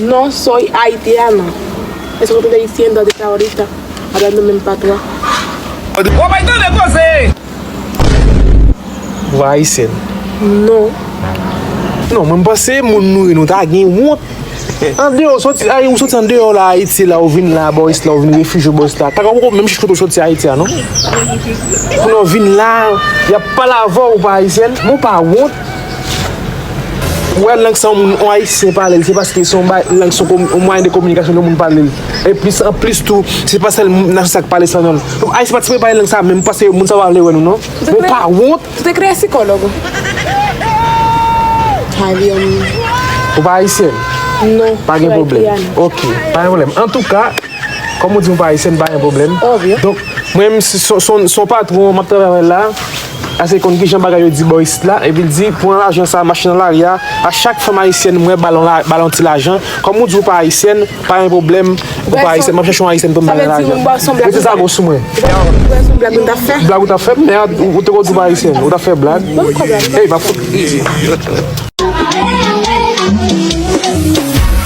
No soy haitiana eske ou te ayisyen donde está ahorita hablando menm patwa. Wap bay tande koze. Vwa haïtienne. Non. Non mwen panse moun nou nou ta gen wont. An deyo ou soti ay ou soti an deyo la Ayiti la ou vin la bò is la ou vin refije bò is la. Taka ou menm chich kote ou soti Ayiti a non. Kounye ou vin la yap pale avè ou pa Ayisyen. Mwen pa wont. Ou wè lang sa yon ayisyen pale l se paske se yon bagay lang se yon mwayen de kominikasyon ke moun pale l e plis anplis tou se pa sèl nasyon sa k pale sa nan donk ayisyen pa t sipoze pale lang sa menm paske moun sa yo pa vle wè nou non nou pa wont ou pa ayisyèn pa gen pwoblèm ok pa gen pwoblèm antouka kòm ou di ou pa ayisyèn pa gen pwoblèm donk mwen menm se yon patwon m ap travay avè l la. Ase konn kijan bagay yo di bò isit la epi l di pran lajan sa mache nan lari a a chak fanm ayisyèn m wè ba l yon ti lajan kòm ou di ou pa ayisyèn pa gen pwoblèm ou pa ayisyèn m ap chèche yon ayisyèn pou m ba l yon lajan mete zago sou mwen blag ou t ap fè mèd ou te konn di ou pa ayisyèn ou t ap fè blag ey m ap fout